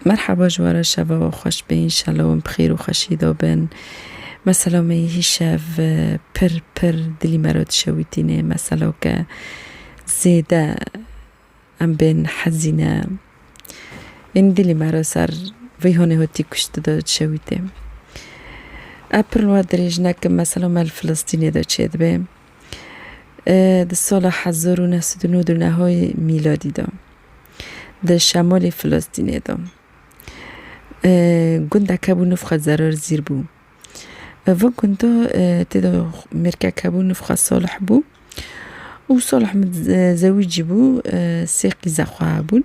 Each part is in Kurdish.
Merhaba ji wara şeva we xweş be înşela wan bi xêr û xweşî de bin. Mesela me yê hîşev pir pir dilî me re dişewîtîne. Mesela ke zêde em bên hezîn e. Ên dilî me re ser vê honê hotî kuşti de dişewîte. Ev pir li wan dirêj nekin mesela me li Filistînê de çêdibe. Di sala hezar û neh sed û nû di nehayê mîladî de di şemalê Filistînê de gundek hebû nifxe Zerar Zîr bû. Vê gunda tê de mêrkek hebû nifxe Salih bû û Salih min zewicî bû sê qîza xwe hebûn.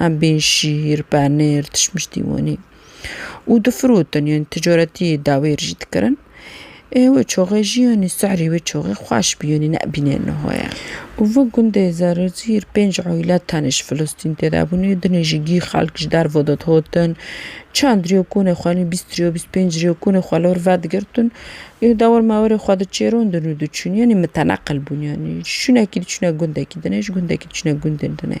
Em bên şîr, penêr, tişmiştî wanî û difirotin yanî ticaretî dawêr jî dikirin. Ê wê çaxê jî yanî serî wê çaxê xweş bî yanî nebîne niha ye. Û vi gundê Zerizîr pênc aîle tenê ji Filistîn tê de bûnê. Dinê jî gî xelk ji derve de dihatin. Çend riya konê xwe yanî bîst riya bîst pênc riya konê xwe li wir vedigirtin û dewir mewirê xwe diçêrandin û diçûn yanî miteneqil bûn yanî ji şûnekî diçûne gundekî dinê ji gundekî diçûne gundên dinê.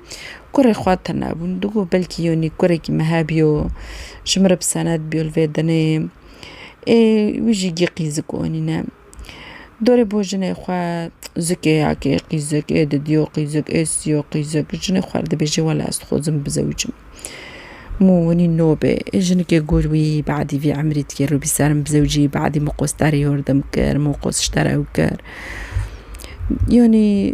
Kurê xwe tune bûn. Tu got belkî yonî kurekî me hebûyo, ji min re bi senet bûyo li vê dinê. Ê wî jî gîqî zik onîne. Dorê bo jinê xwe zikê ya kê qîzik ê didiyo qîzik ê siyo qîzik. Jinê xwe re dibêje wela ez dixwazim bizewicim. Mû winî no bê. Ê jinikê got wî badî vî emrî dikê rûbî ser min bizewicî badî min qostarê yordim kir, min qosiştara ew kir. Yonî.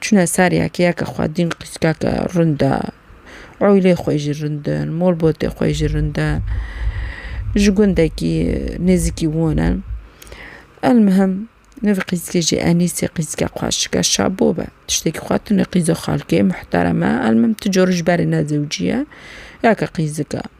Çûne ser yekeyeke xwe dîn qîskeke rind e. Oylê xwe jî rind in, molbotê xwe jî rind e. Ji gundekî nêzîkî wan e. Elmihim nivî qîskê jî Enîsê qîske xwe şike şabo be. Tiştekî xwe tune qîzo xalkê muhterem e. Elmihim ti cor ji berê ne zewcî ye. Yeke qîzik e.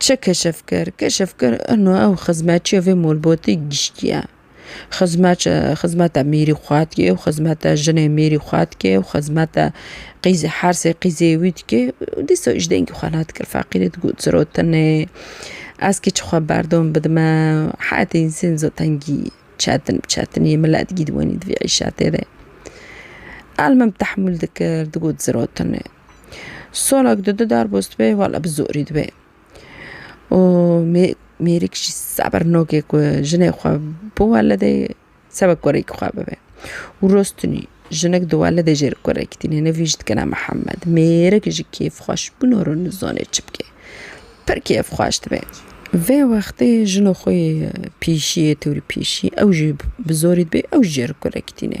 Çi keşf kir? Keşf kir ino ew xizmetçiya vê malbatê giştiye. Xizmet xizmeta mêrî xwe dike û xizmeta jinê mêrî xwe dike û xizmeta qîzê hersê qîzê wî dike û dîsa ji dengê xwe nedikir feqîrê digot zirotinê ez kî çixwe berdom bidime heyetê însenî zû tengî çetin bi çetinî milet gîdwanî di vî îşa têde. Elmim tehmûl dikir digot zirotinê. Solak di du darboz dibe wala bi zorî dibe û mêrik jî sebir nake ku jinê xwe bi welidê seba kurekî xwe bibe û rostinî jinik di welidê jê li kurekî tîne nivî jî dikine Mihemed mêrik ji kêfxweş bûna re nizane çi bike pir kêfxweş dibe vê wextê jina xwe yê pêşiyê tewrî pêşî ew jî bi zorî dibe ew jî jê li kurekî tîne.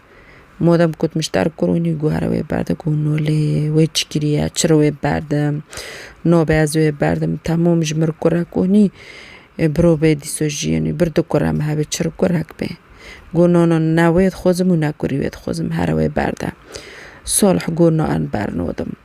Modem ku dimiştdar kurûnî guhare wê berdim ku no lê wê çi kiriye çi re wê berdim no be ez wê berdim temûm ji mir kure kunî biro bê dîsa jiyînî bir du kure me hebe çir kurek bê got no no ne wê dixwazim û ne kurî wê dixwazim here wê berde solh got no em bernodim.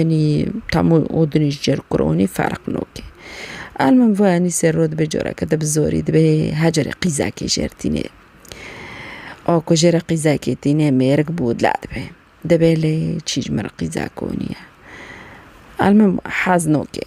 Enî temû odinî ji cêr kuronî ferq nake. El min va enî sêro dibe careke te bi zorî dibe hecerê qîzekê jêr tîne. A ku jêrê qîzekê tîne mêrik bû dile dibe. Dibe lê çî ji min re qîzek konî ye. El min hez nake.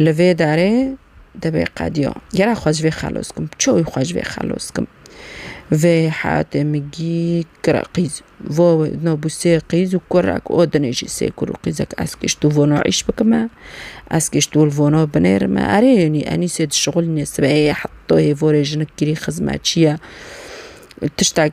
Li vê darê divê qediya gera xwe ji vê xelos bikim, çawi xwe ji vê xelos bikim. Vê heyatê min gî kira qîz vo na bû sê qîz û kurek û dinê jî sê kur û qîzek ez kişt û vona îş bikime, ez kişt û li vona binêrime. Erê nî enî sê dişixulîne sibehê heta hêvorê jinik kirî xizmetçi ye tiştek.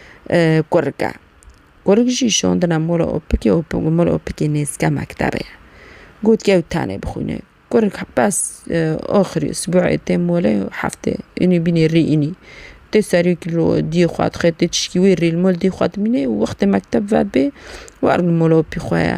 Kurik e. Kurik jî şondina mola opikê û mola opikê nêzîka mektebê ye. Got ew tenê bixwîne. Kurik bes axirê sibûê tê mole û heftê înî bînî rî înî. Tê serî diyê xwe dixê tê tişkî wê rî li mol diyê xwe dimîne û wextê mekteb ve bê wer li mola opî xwe ye.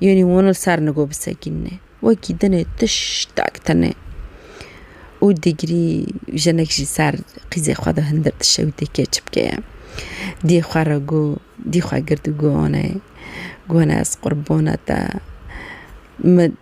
Yonî wan li ser nigo bisekînîne. Wekî dinê tiştek tine û dîgrî jinek jî ser qîzê xwe de hindir dişe û tê kê çi bike ye. Dî xwe re go, dî xwe gird û go anayê. Gone ez qurbana te. Min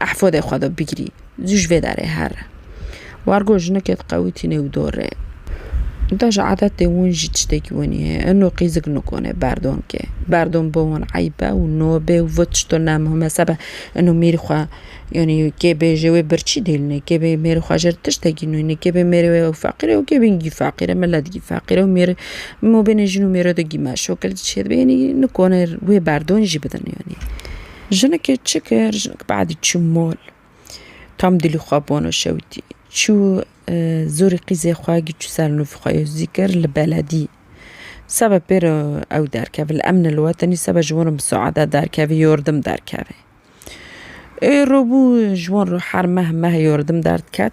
Ehfodê xwe do bigirî. Zû ji vê derê here. Wargo jinikê diqewitîne û dorê. Da ji adetê win jî tiştekî wenî heye. Eno qîzik nikonê berdon ke. Berdon bo wan eyb e û nobê û vit ji to ne muhime sebe. Eno mêrî xwe yanî kê bê ji wê birçî dêlinê. Kê bê mêrî xwe ji ir tiştekî nûnê. Kê bê mêrê wê ew feqîr e û kê bê gî feqîr e. Milet gî feqîr e û mêrê mobênê jin û mêro de gî meşûk e. Li dişê de bê yanî nikonê wê berdon jî bidin yanî. Jinekê çi kir? Jinek be'dî çû mol. Tam dilî xwe bono şewitî. Çû zorî qîzê xwe giçû ser nûvî xwe yê zî kir li beledî. Sebe pê re ew derkeve li emne li we tenî sebe ji wan re misaade derkevê yordim derkevê. Ê robû ji wan re her meh meh yordim derdiket.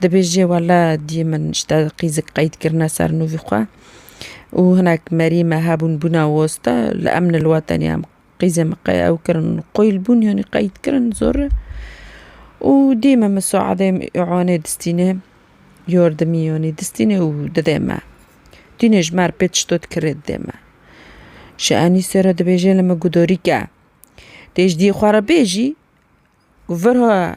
Dibêje wele diyê min ji te qîzik qeyd kirine ser nûvî xwe û hinek merî me hebûn bûna woste li emn li we tenê em qîzê min qey ew kirin qoyl bûn yanî qeyd kirin zor e û diyê min misaedê îwanê distîne yordimî yanî distîne û didê me tîne ji me re pê tişto dikirê didê me ji Enîsê re dibêje li min guh dorîke tê ji diyê xwe re bêjî vir ha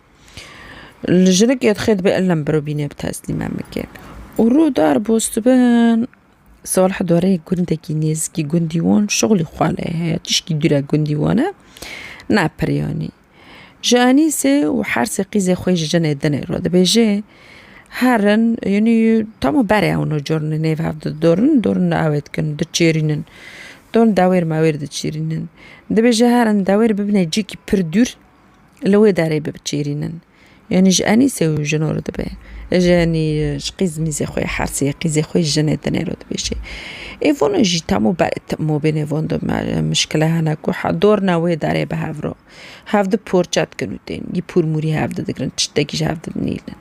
Li jinik yê dixê dibe ellem biro bînê bi teslîm em bikin. Û rû dar bostibin Salih dorê gundekî nêzikî gundî wan şixulî xwe lê heye tişkî dûre gundî wan e ne piryanî. Ji Enîsê û hersê qîzê xwe ji jinê dinê re dibêje herin yanî tama berê ew ne corin nêv hev di dorin dorin li ewê dikin diçêrînin dorin dewêr mewêr diçêrînin dibêje herin dewêr bibine cihekî pir dûr li wê derê bibçîrînin. Yanî ji Enîsê û jino re dibe. Yanî ji qîzmîzê xwe yê Hersê yê qîzê xwe yê jinê dinê re dibêje. Ê vano jî temo ber ê temo bê nêvan de mişkile hene ku dorna wê derê bi hev re hev di porçe dikin û tên yî pûr mûrî hev di digirin tiştekî ji hev di nîlin.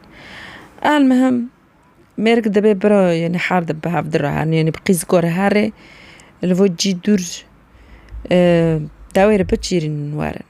El mihim mêrik dibê bira yanî her di bi hev di re herin yanî bi qîziko re herê li vir cî dûr dewê re biçîrînin werin.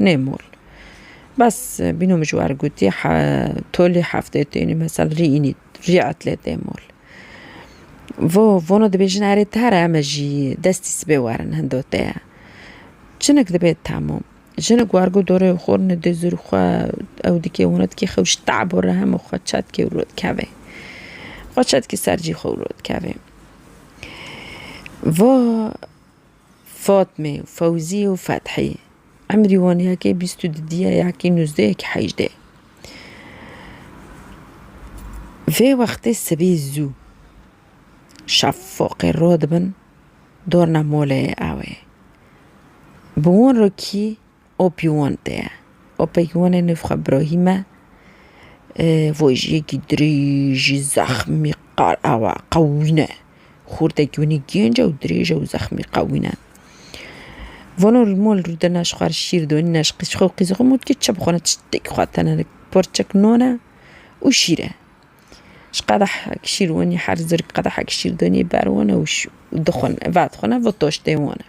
nê mol. Bes bîno min ji wan re gotî tolî heftê tênî mesel rî înî rî etlê tê mol. Vo vono dibêjin erê tare em e jî destî sibê werin hindo te ye. Jinik dibe tamûm jinik war got dorê xwe rine dê zûrî xwe ew dikê wina dikê xew ji tabo re heme xwe çetke û rûdikeve. Xwe çetkî ser cî xwe û rûdikeve. Vo Fatmê, Fewzî û Fethî. Emrî wan yekê bîst û du diye, yekî nûzdeh, yekî hejdeh. Vê wextê sibê zû şefoqê ro dibin dorna moleyê ew ê. Bi wan re kî Opyûwan tê. Opeyûwanê nû xwe birahîme vojiyekî dirêjî zexmî qal awa qewî ne. Xurtekî winî gênc e û dirêj e û zexmî qewî ne. Vano li mal rû de ne ji xwe re şîr donî ne ji qîz xwe û qîza xwe mût kê çi bixwe ne tiştekî xwe tene ne parçek nan e û şîr e. Ji qedehek şîr winî her zirg qedehek şîr donî ber wan e û dixwe ne vadixwe ne va taştê wan e.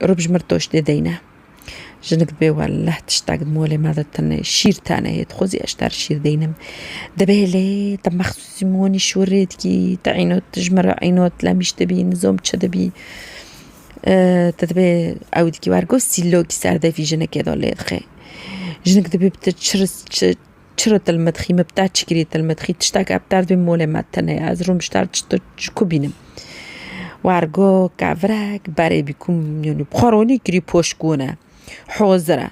Rûbjmir doş dê deyne. Jinik dibê welleh tiştek di molê me de tune şîr tane hê. Dixwazî ez ji te re şîr deynim. Dibê lê te mexsûsî monî şûrê dikî. Te îno tu ji min re îno tu lemîş dibî nizom çi dibî. Te dibê ew dikî wer got sîlokî ser devî jinikê de lê dixê. Jinik dibê bi te çi Çiro tilmidxî min bi te çi kirî tilmidxî tiştek ev derd wê molê me tune ye ez rûm ji te ji tu ji ku bînim wergo kevrek berê bî ku yanî bi xwe ronî kirî poşk wune hozir e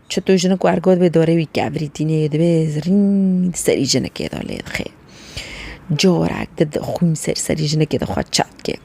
çi tu jinik wergo dibê dorê wî kevrî tîne yê dibê zirrîn di serî jinikê de lê dixê corek di xwîn ser serî jinikê de xwe çet kê.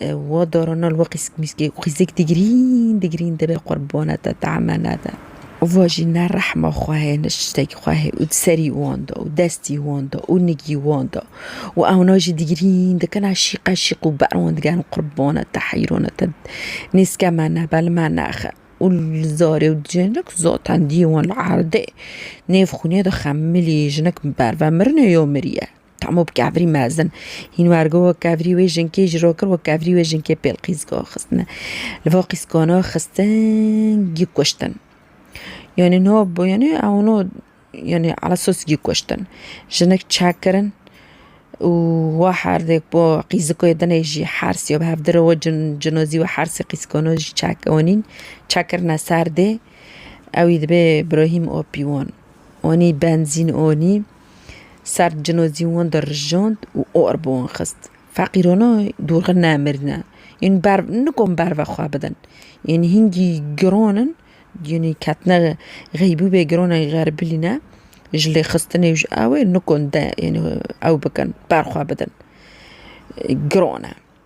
Wa darana li we qîsk mîsk ê û xîzek dî girîn dî girîn dibe qurbana te temena de. Wa jî ne rehma xwe heye ne şiştekî xwe heye û di serî wan de û destî wan de û nigî wan de û ewna jî dî girîn dikin a şîqe şîq û ber wan digerin qurbana te heyrana te nêzke me nebe li me nexe û li zarê û jinik zaten dî wan li erdê nêv xûnê de xemilî jinik berve mirinê yo miriye. Tamo bi kevirî mezin. Hîn wergo wek kevirî wê jinkê ji rokir wek kevirî wê jinkê pêl qîzgo xistine. Li va qîzgona xistin gî kuştin. Yanî no bo yanî ew no yanî ala sos gî kuştin. Jinik çekirin û wa herdêk bo qîziko yê dinê jî hersî yo bi hev dire we cin cinozî we hersî qîzgona jî çek wanîn çekirine ser dê ewî dibê birahîm opî wan. Wanî benzîn wanî. Serd cinozî wan dirijand û or bi wan xist. Feqîrana dorxî nemirîne. Yên ber nikon ber ve xwe bidin. Yên hingî giran in, yên ketine xeybûbê giran in xeribîlî ne, ji lêxistinê û ji ewê nikon de yên ew bikin, ber xwe bidin. Giran e.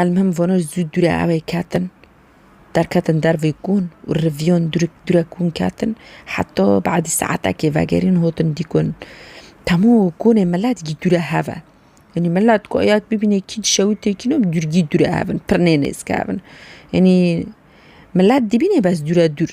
Elmhim vano zû dûrê ewê ketin, derketin dervê kûn û riviyan dûrê dûrê kûn ketin heta badî saetekê vegerîn hatin dîkun. Temû kûnê milet gî dûrê hev e. Enî milet ku ya bibîne kî dişewitê kî ne dûr gî dûrê hev in, pir nê nêzikevin. Enî milet dibîne bes dûrê dûr.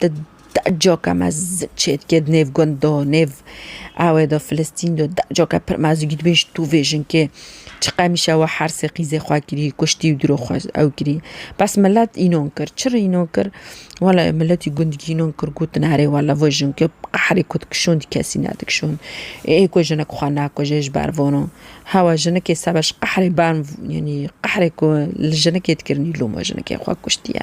Di decoka me zik çêdike di nêv gund de, nêv ewê de, Filistîn de decoka pir me zik dibêj tu vêjin kê çi qemîşe we hersê qîzê xwe kirî, kuştî û diro xwe ew kirî. Bes milet înon kir. Çi re înon kir? Wela miletî gundikî înon kir gotin erê wela vejin kê qehrê ku dikişon dî kesî nedikişon. Ê ku jinik xwe nakuje ji ber vano. Hewa jinikê sebe ji qehrê berm yanî qehrê ku li jinikê dikirinî loma jinikê xwe kuştiye.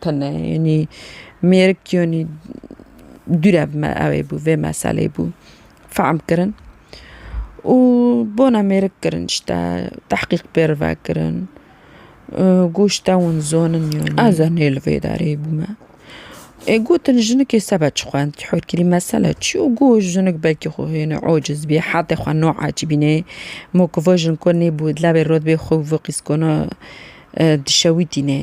Tune yanî mêrik yanî dûre bi me ew ê bû vê meselê bû fehm kirin û bona mêrik kirin işte tehqîq pê re ve kirin got işte hûn zonin yanî ez ê nê li vê derê bû me ê gotin jinikê sebe çi xwend tî hûrkirî mesele çi yo got jinik belkî xwe hênî ociz bî hetê xwe na ecbînê mokivajin ko nêbû dilê rot bê xwe wê qîskona dişewitînê.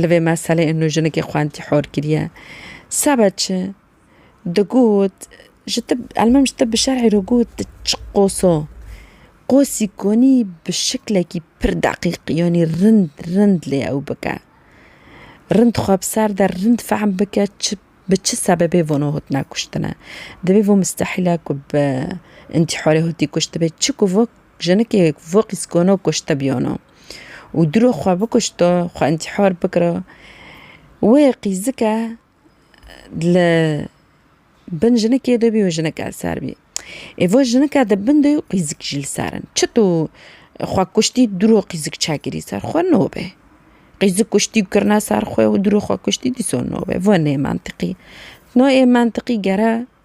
Li vê meseleyê nû jinekî xwendî hor kiriye. Sebe çi? Digot, ji te elmim ji te bi şerî re got tu çi qoso. Qosî konî bi şiklekî pir deqîq yanî rind rind lê ew bike. Rind xwe bi ser de rind fehm bike çi bi çi sebebê vano hatine kuştine. Divê vê mistehîle ku bi întîharê hatî kuştibê çi ku vok Jinikê vî qîskono kuşte bîyono û diro xwe bikuşto, xwe întîhar bikiro, wê qîzike li bin jinikê de bî û jinike li ser bî. Êvo jinike di bin de qîzik jî li ser in. Çi tu xwe kuştî diro qîzik çekirî ser xwe nobe. Qîzik kuştî û kirine ser xwe û diro xwe kuştî dîsa nobe. Vo nê mentiqî. No ê mentiqî gere.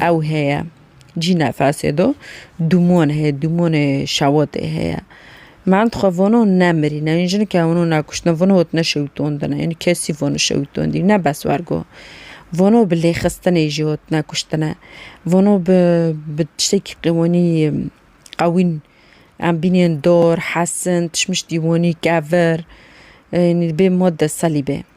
Ew heye. Cî nefesê do dûmon heye, dûmonê şewatê heye. Mend xwe vano nemirîne, ên jinike wano nekuştine, vano hot neşewitondine, ên kesî vano şewitondî, ne bes wergo. Vano bi lêxistinê jî hot nekuştine, vano bi bi tiştekî qê wenî qewîn, em bînên dor, hesin, tişmiştî wenî kevir, ênî bê madde selîbê.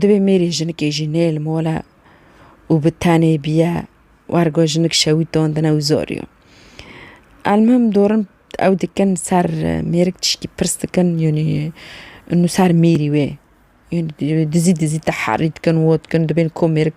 Divê mêrê jinikê jî nêl mole û bi tenê biye wer ku jinik şewî tondine û zor yo. Elmim dorin ew dikin ser mêrik tiştî pirs dikin yanî nû ser mêrî wê dizî dizî te herî dikin wot dikin dibên ku mêrik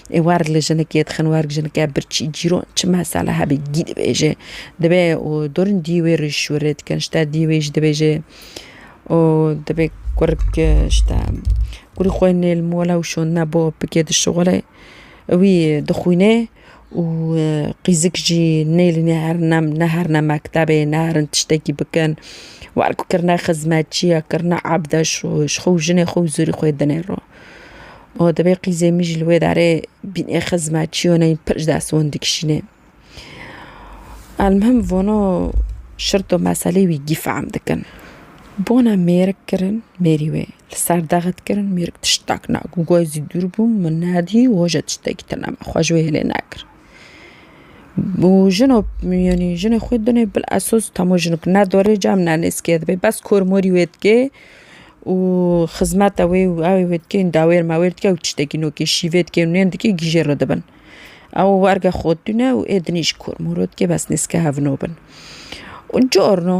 Êwar li jinekê dixin werg jinike birçî cîro çi mesele hebî gî dibêje dibe û dorn dî wê rîş û rê dikin ji te dî wê jî dibêje û dibê kurk ji te kurî xwe nê li mola û şonine bo bike di şixulê wî dixwîne û qîzik jî nê li ne her ne ne her ne mektebê ne herin tiştekî bikin werk kirine xizmetçiya kirine ebde ji xwe û jinê xwe û zûrî xwe dinê ro. O dibê qîzê min jî li wê derê bînê xizme çiyo neyî pir ji dest wan dikişînê. Elmihim vano şirto meselê wî gî fehm dikin. Bona mêrik kirin mêrî wê li ser dexe dikirin mêrik tiştak na ku goy zî dûr bû min nedî waja tiştekî tune me xwe ji wê hêlê nekir. û jino yanî jinê xwe dinê bil esos hemû jinik ne dorê cem ne nêzkê dibê bes kor morî wê dikê û xizmeta wê û ewê wê dikên dawêr mawêr dike û tiştekî nokê şîvê dikê û nên dikê gîjê re dibin. Ew werge xwedîne û êdinî ji kor mor re dikê bes nêzke hevno bin. Û carna.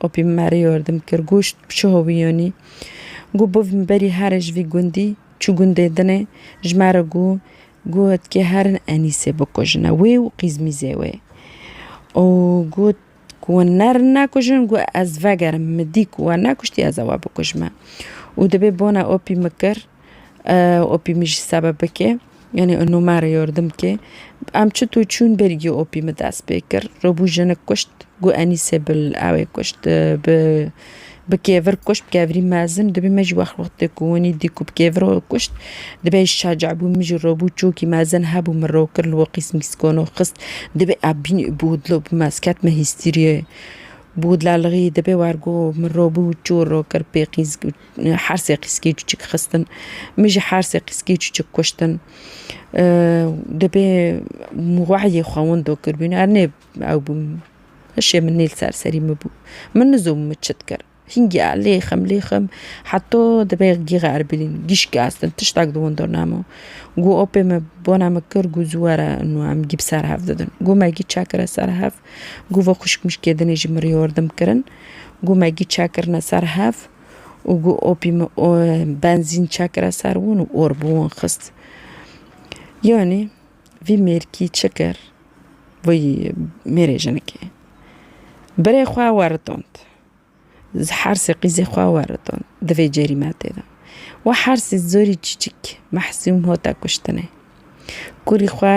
Opî min merê yordim kir goşt bi çiho wîyonî. Gu biv min berî herê ji vî gundî çû gundê dinê ji me re gu got kê herin Enîsê bikujine wê û qîzmîzê wê. Û got ku wan nerin nekujin gu ez vegerim min dî ku we nekuştî ez ê we bikujime. Û dibê bona opî min kir Opî min jî sebe bike, yanî û me re yardim bike. Em çi tu çûn bergî opî min dest pê kir. Rûbû jinik kuşt, gû Enîsê bi ewê kuşt bi bi kêvir kuşt bi kevirî mezin dibî me jî wext wextê ku winî dî ku bi kêvir we kuşt dibê şaca bû min jî rûbû çûkî mezin hebû min rû kir li we qîsmîskano xist dibê ebîn û bûdlo bi me ez ketime hîstîriyê bûdla li rî dibê war gû min rûbû çû rû kir pê qîz Her sê qîskî çûçik xistin. Min jî her sê qîskî çûçik kuştin. Dibê wehyê xewin do kiribûn her nê ew bûn. Hişê min nê li ser serî min bû. Min nizûm min çi dikir. Hîn giya lê xim lê xim heto dibê gîxa Erbilîn gîşkî astin tiştek di winda nemo. Goh apê min bona min kir goh zû were û em gî bi ser hev didin. Goh me gî çekire ser hev. Goh vexwişk mişkê dinê jî mirî yardim kirin. Goh me gî çekirine ser hev. û gu opî min o benzîn çekire ser wan û or bi wan xist. Yanî vî mêrkî çi kir vî mêrê jinikê? Birê xwe weritand. Hersê qîzê xwe weritand di vê cerîmetê de. Wi hersê zorî çîçik Mehsûm hate kuştinê. Kurî xwe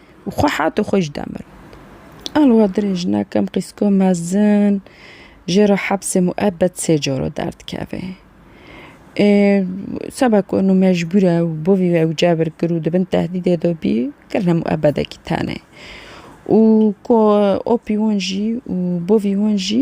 û xwe hat û xwe ji de mir. A li wan derê jina kem qîzko mezin jê re hepsê muebed sê caro derdikeve. Ê seba ku eno mecbûr e û bo vî ew cebir kir û di bin tehdîdê de bî kirine muebedekî tenê. Û ku opî wan jî û bo vî wan jî.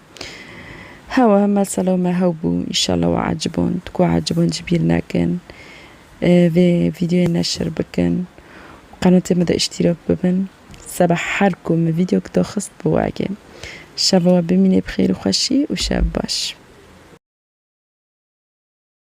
Hewa mesela me hew bû înşallah we eciband ku eciband jî bîr nekin vê vîdeoyê neşir bikin û qenatê me de îştîrak bibin seba her ku min vîdeok daxist bi we eke şeva we bimînê bi xêr û xweşî û şev baş.